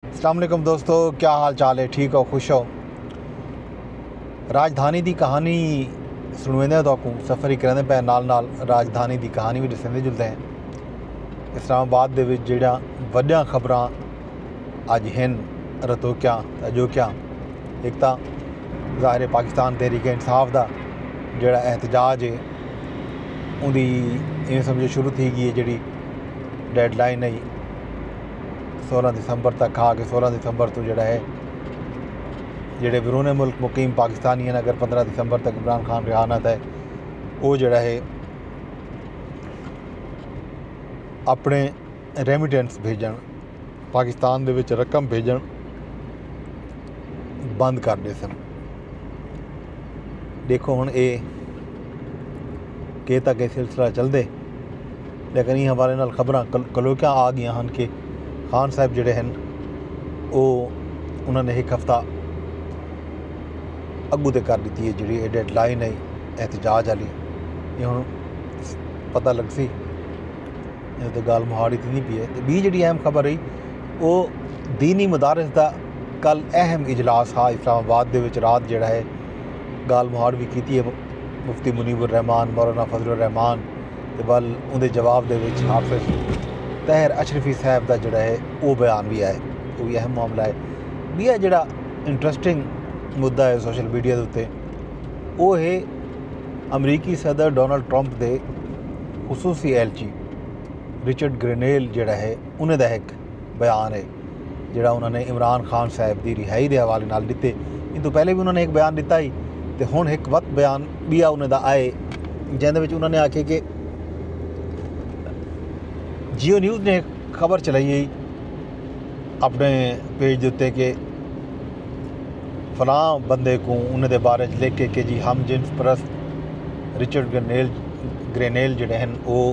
اسلام علیکم دوستو کیا حال چال ہے ٹھیک ہو خوش ہو راجدھانی دی کہانی سنویندے ہیں تو اکوں سفر ہی کریندے پہ نال نال راجدھانی دی کہانی بھی ڈسیندے جلدے ہیں اسلام آباد دے وچ جڑیاں وڈیاں خبراں اج ہن رتو کیا اجو کیا ایک تا ظاہر پاکستان تحریک انصاف دا جڑا احتجاج ہے ان دی ایویں سمجھو شروع تھی گئی ہے جڑی ڈیڈ لائن ہے سولہ دسمبر تک کھا کے سولہ دسمبر توں جڑا ہے جڑے بیرون ملک مقیم پاکستانی ہیں اگر پندرہ دسمبر تک عمران خان رہا نہ تھے وہ جڑا ہے اپنے ریمیٹنس بھیجن پاکستان دے وچ رقم بھیجن بند کر دے سن دیکھو ہن اے کہ تک یہ سلسلہ چل دے لیکن ایں حوالے نال خبراں کلوکیاں آ گیاں ہن کہ خان صاحب جیڑھے ہن او انہاں نے ہک ہفتہ اگو تے کر ڈتی ہے جیڑھی ڈیڈ لائن ہے احتجاج آلی اے ہن پتہ لگسی اے تے گال مہاڑی تھیندی پی ہے تے بی جیڑھی اہم خبر رہی او دینی مدارس دا کل اہم اجلاس ہا اسلام آباد دے وچ رات جیڑھا ہے گال مہاڑ بھی کیتی ہے مفتی منیب الرحمان مولانا فضل الرحمان تے ول اوندے جواب دے وچ حافظ طاہر اشرفی صاحب دا جڑا ہے او بیان وی آئے او وی اہم معاملہ ہے بیا جڑا انٹرسٹنگ مدعا ہے سوشل میڈیا دے اتے او ہے امریکی صدر ڈونلڈ ٹرمپ دے خصوصی اہلچی رچرڈ گرینیل جڑا ہے انہیں دا ہک بیان ہے جیڑھا انہاں نے عمران خان صاحب دی رہائی دے حوالے نال ڈتے ان توں پہلے وی انہاں نے ہک بیان ڈتا ہی تے ہن ہک وت بیان بیا انہاں دا آئے جیندے وچ انہاں نے آکھے کہ جیو نیوز نے خبر چلائی ہے اپنے پیج دے کہ فلاں بندے کو انہیں دے بارے لکھ کے کہ جی ہم جنس پرست رچرڈ گرینیل گرینیل جڑے ہیں وہ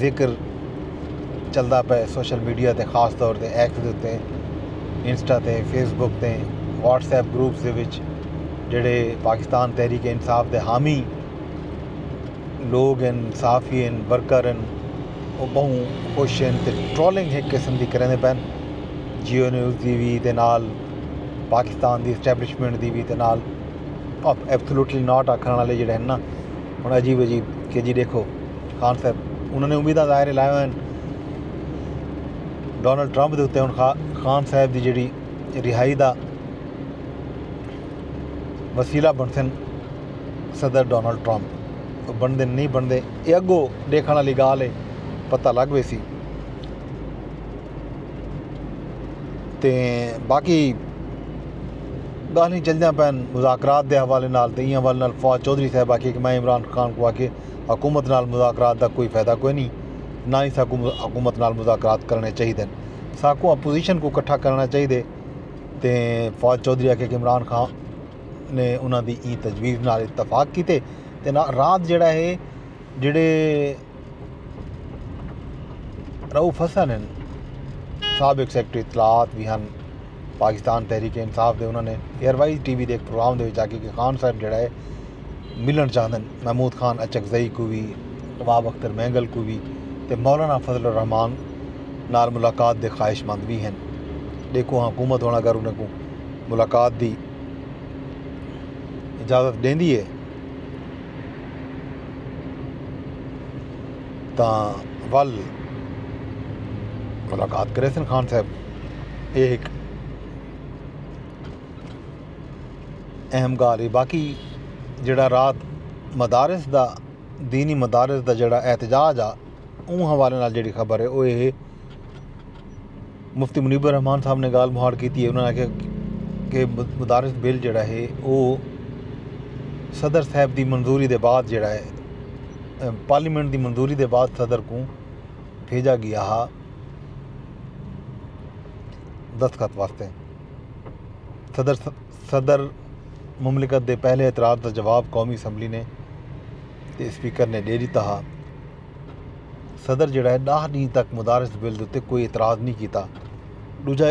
ذکر چلدا پئے سوشل میڈیا تے خاص طور تے ایکس دے اتے انسٹا تے فیس بک تے واٹس ایپ گروپس دے وچ جیڑھے پاکستان تحریک انصاف دے حامی لوگ ہن صحافی ہن ورکر ہن او بہوں خوش ہن تے ٹرولنگ ہک قسم دی کریندے پئے جیو نیوز دی وی تے نال پاکستان دی اسٹیبلشمنٹ دی وی تے نال ایبسلوٹلی ناٹ آکھن والے جیڑھے ہن نا ہݨ عجیب عجیب کے جی ݙیکھو خان صاحب انہاں نے امیداں ظاہر لائیاں ہوئن ڈونلڈ ٹرمپ دے اتے ہن خان صاحب دی جڑی رہائی دا وسیلہ بنسن صدر ڈونلڈ ٹرمپ بندے نہیں بندے یہ اگو ڈیکھن والی گال ہے پتہ لگ ویسی تے باقی گالھیں چلدیاں پین مذاکرات دے حوالے نال تے ایں حوالے نال فواد چوہدری صاحب آکھیے کہ میں عمران خان کو آکھیے حکومت نال مذاکرات دا کوئی فائدہ کوئی نہیں نہ ہی ساکو حکومت نال مذاکرات کرنے چاہیدے ساکو اپوزیشن کو کٹھا کرنا چاہیدے تے فواد چوہدری آکھیے کہ عمران خان نے انہاں دی ایں تجویز نال اتفاق کیتے تے رات جڑا ہے جڑے رؤف حسن ہن، سابق سیکرٹری اطلاعات وی ہن پاکستان تحریک انصاف دے۔ انہاں نے ایئر وائز ٹی وی دے ہک پروگرام دے وچ آکھیا کہ خان صاحب جیڑھا ہے ملݨ چاہندن محمود خان اچکزئی کوں وی، رباب اختر مینگل کوں وی تے مولانا فضل الرحمان نال ملاقات دے خواہش مند وی ہن۔ ݙیکھو ہاں حکومت ہݨ اگر انہاں کوں ملاقات دی اجازت ݙیندی ہے۔ تاں ول ملاقات کریسن خان صاحب اے ہک اہم گالھ ہے باقی جیڑا رات مدارس دا دینی مدارس دا جیڑا احتجاج آ اوں حوالے نال جیڑی خبر ہے او اے ہے مفتی منیب الرحمن صاحب نے گالھ مہاڑ کیتی ہے انہوں نے آکھیا کہ مدارس بل جیڑا ہے او صدر صاحب دی منظوری دے بعد جیڑا ہے پارلیمنٹ دی منظوری دے بعد صدر کوں بھیجا گیا ہا دستخط واسطے صدر صدر مملکت دے پہلے اعتراض دا جواب قومی اسمبلی نے تے اسپیکر نے ڈے ڈیتا ہا صدر جیڑھا ہے ݙاہ ݙینھ تک مدارس بل دے اتے کوئی اعتراض نی کیتا ݙوجھا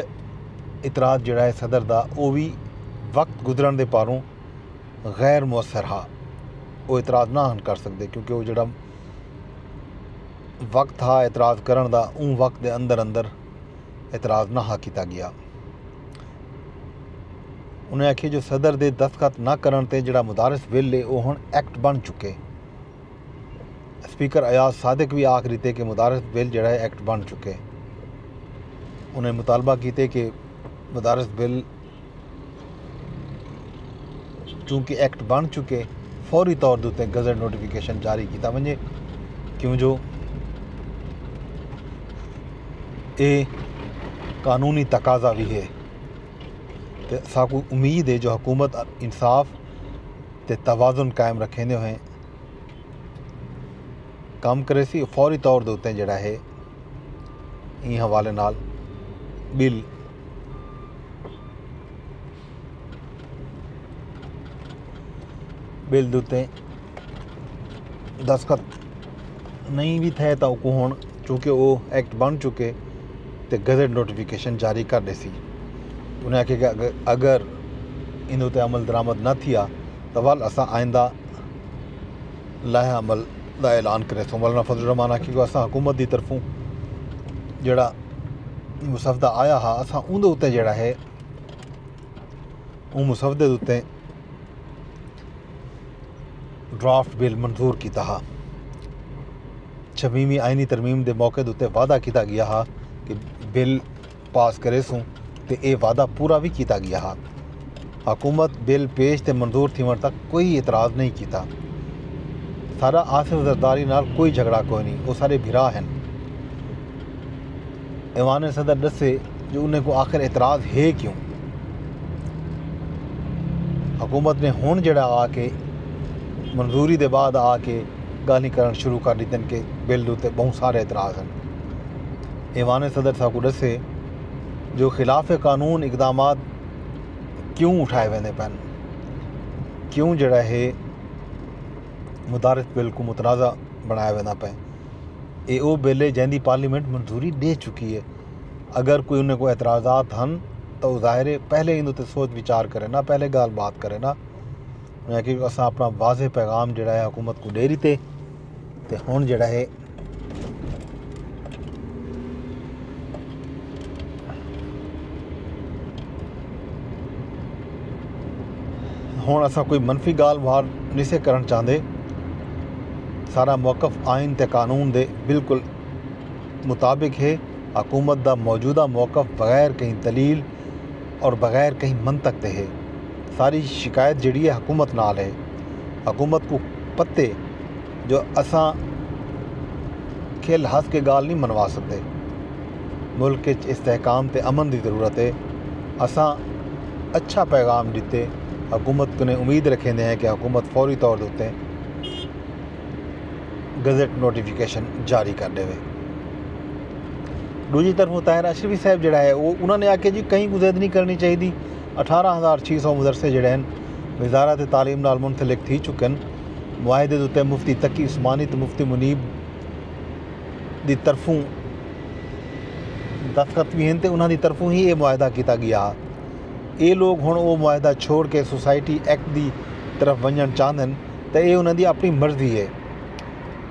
اعتراض جیڑھا ہے صدر دا او وی وقت گزرݨ دے پاروں غیر موثر ہا او اعتراض نہ ہن کر سڳدے کیونکہ او جیڑھا وقت ہا اعتراض کرݨ دا اوں وقت دے اندر اندر اعتراض نہ ہا کیتا ڳیا انہاں آکھیے جو صدر دے دستخط نہ کرݨ تے جیڑھا مدارس بل ہے او ہݨ ایکٹ بݨ چکے اسپیکر ایاز صادق وی آکھ ݙتے کہ مدارس بل جیڑھا اے ایکٹ بݨ چکے۔ انہاں مطالبہ کیتے کہ مدارس بل چونکہ ایکٹ بݨ چکے فوری طور دے اتے گزٹ نوٹیفکیشن جاری کیتا ونڄے کیوں جو اے قانونی تقاضا وی اے تے اساکوں امید اے جو حکومت انصاف تے توازن قائم رکھیندے ہوئیں کم کریسی فوری طور دے اتیں جڑا ہے این حوالے نال بل بل دے اتیں دستخط نہیں بھی تھے تو کو ہن چونکہ وہ ایکٹ بن چکے تے گزٹ نوٹیفیکیشن جاری کر دے سی انہیں آکھے کہ اگر ان اتیں عمل درآمد نہ تھیا تو ول اساں آئندہ لائحہ عمل دا اعلان کریسوں مولانا فضل الرحمان آکھیا جو اساں حکومت دی طرفوں جیڑھا مسودہ آیا ہا اساں اوندے اتے جیڑھا ہے اون مسودے دے اتے ڈرافٹ بل منظور کیتا ہا چھبیویں آئینی ترمیم دے موقع دے اتے وعدہ کیتا گیا ہا کہ بل پاس کریسوں تے اے وعدہ پورا وی کیتا گیا ہا۔ حکومت بل پیش تے منظور تھیوݨ تک کوئی اعتراض نئیں کیتا۔ ساݙا آصف زرداری نال کوئی جھڳڑا کوئنی او ساݙے بھرا ہن۔ ایوان صدر ݙسے جو انہیں کوں آخر اعتراض ہے کیوں؟ حکومت نے ہݨ جیڑھا آ کے منظوری دے بعد آ کے ڳالھیں کرݨ شروع کر ݙتن کہ بل اتے ٻہوں سارے اعتراض ہن۔ ایوان صدر ساکوں ݙسے جو خلاف قانون اقدامات کیوں اٹھائے ویندے پئے ہن کیوں جیڑھا ہے مدارس بل کوں متنازعہ بݨایا ویندا پئے اے او بل ہے جیندی پارلیمنٹ منظوری ݙے چکی ہے اگر کوئی انہیں کوئی اعتراضات ہن تاں او ظاہر ہے پہلے ایندے تے سوچ وچار کرے نا پہلے ڳالھ بات کرے نا انہیں آکھیا جو اساں اپݨا واضح پیغام جیڑھا ہے حکومت کوں ݙے ݙتے تے ہݨ جیڑھا ہے ہن اساں کوئی منفی گال بھار نہیں سے کرن چاہندے سارا موقف آئین تے قانون دے بالکل مطابق ہے حکومت دا موجودہ موقف بغیر کہیں دلیل اور بغیر کہیں منطق دے ہے ساری شکایت جڑی ہے حکومت نال ہے حکومت کو پتے جو اساں کھل ہس کے گالھ نی منوا سکدے۔ ملک اچ استحکام تے امن دی ضرورت اے، اساں اچھا پیغام ڈتے حکومت کنیں امید رکھیندے ہیں کہ حکومت فوری طور دے اتے گزٹ نوٹیفکیشن جاری کر ڈیوے۔ ڈوجھی طرف طاہر اشرفی صاحب جڑا ہے او انہاں نے آکھیا جی کہیں کوں زید نی کرنی چاہیدی اٹھارہ ہزار چھ سو مدرسے جڑے ہیں وزارت تعلیم نال منسلک تھی چکن۔ معاہدے دے اتے مفتی تقی عثمانی تے مفتی منیب دی طرفوں دستخط وی ہن تے انہاں دی طرفوں ہی اے معاہدہ کیتا گیا ہا اے لوگ ہن او معاہدہ چھوڑ کے سوسائٹی ایکٹ دی طرف ونجنڑ چاہندن تے اے انہاں دی اپنی مرضی ہے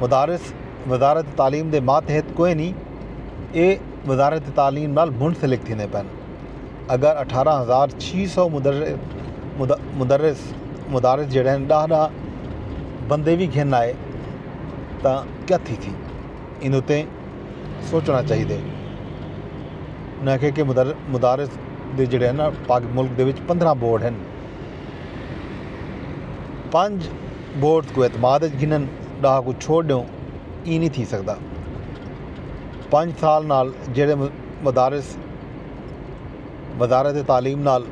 مدارس وزارت تعلیم دے ماتحت کوئنی اے وزارت تعلیم نال منسلک تھیندے پن۔ اگر اٹھارہ ہزار چھی سو مدرس مدارس جیڑے ہیں ڈاہ ڈاہ بندے وی گھن آئے تاں کیا تھی تھی ان اتے سوچنا چاہی دے انہاں کہ کہ مدارس دے جڑے ہیں نا پاک ملک دے وچ پندرہ بورڈ ہیں پانچ بورڈ کو اعتماد گھنن ڈاہ کو چھوڑ دیوں ای نہیں تھی سکتا پانچ سال نال جڑے مدارس وزارت تعلیم نال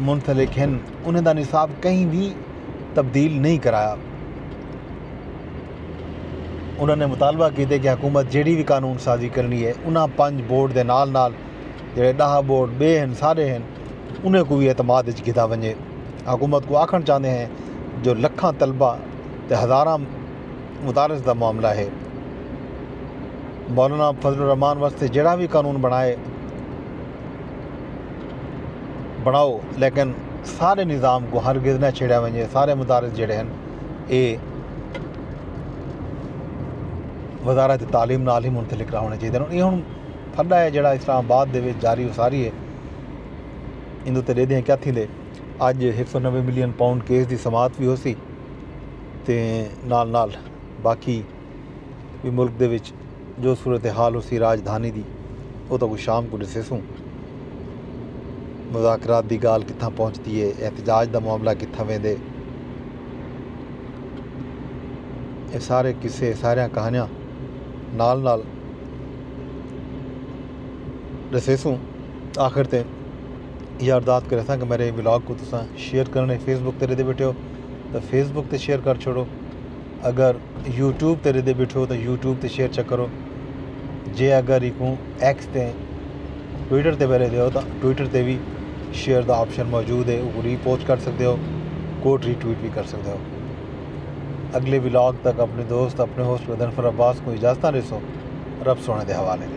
منسلک ہن انہیں دا نصاب کہیں وی تبدیل نہیں کرایا انہوں نے مطالبہ کیتے کہ حکومت جیڑی بھی قانون سازی کرنی ہے انہاں پنج بورڈ دے نال نال جڑے ڈاہ بورڈ بے ہن سارے ہن انہیں کو بھی اعتماد اچ گھدا ونجے حکومت کو آکھن چاہندے ہیں جو لکھاں طلبہ تے ہزاراں مدارس دا معاملہ ہے مولانا فضل الرحمان واسطے جیڑا وی قانون بنڑائے بنڑاؤ لیکن سارے نظام کو ہر گز نہ چھیڑیا ونجے سارے مدارس جڑے ہیں اے وزارت تعلیم نال ہی منتلک رہنے چاہیے یہ ہوں پھڈا ہے جڑا اسلام آباد دے وچ جاری و ساری ہے اندو تے دیدے ہیں کیا تھی لے اج ایک سو نوے ملین پاؤنڈ کیس دی سماعت بھی ہو سی تے نال نال باقی وی ملک دے وچ جو صورتحال ہوسی راجدھانی دی او تاں کوں شام کوں ݙسیسوں، مذاکرات دی ڳالھ کتھاں پہنچدی اے، احتجاج دا معاملہ کتھاں ویندے، اے سارے قصے اے ساریاں کہانیاں نال نال ݙسیسوں آخر تے ایہا ارداد کریساں کہ میݙے ولاگ کوں تساں شیئر کرݨ فیس بک تے ݙیندے ٻیٹھے ہو تاں فیس بک تے شیئر کر چھوڑو۔ اگر یوٹیوب تے ردے بیٹھو تاں یوٹیوب تے شیئر چیک کرو جے اگر ایکوں ایکس تے ٹویٹر تے پہلے دیو تاں ٹویٹر تے بھی شیئر دا آپشن موجود ہے وہ ری پوسٹ کر سکتے ہو کوٹ ری ٹویٹ بھی کر سکتے ہو اگلے ولاگ تک اپنے دوست اپنے ہوسٹ بدن فر عباس کو اجازتاں رسو رب سونے دے حوالے دے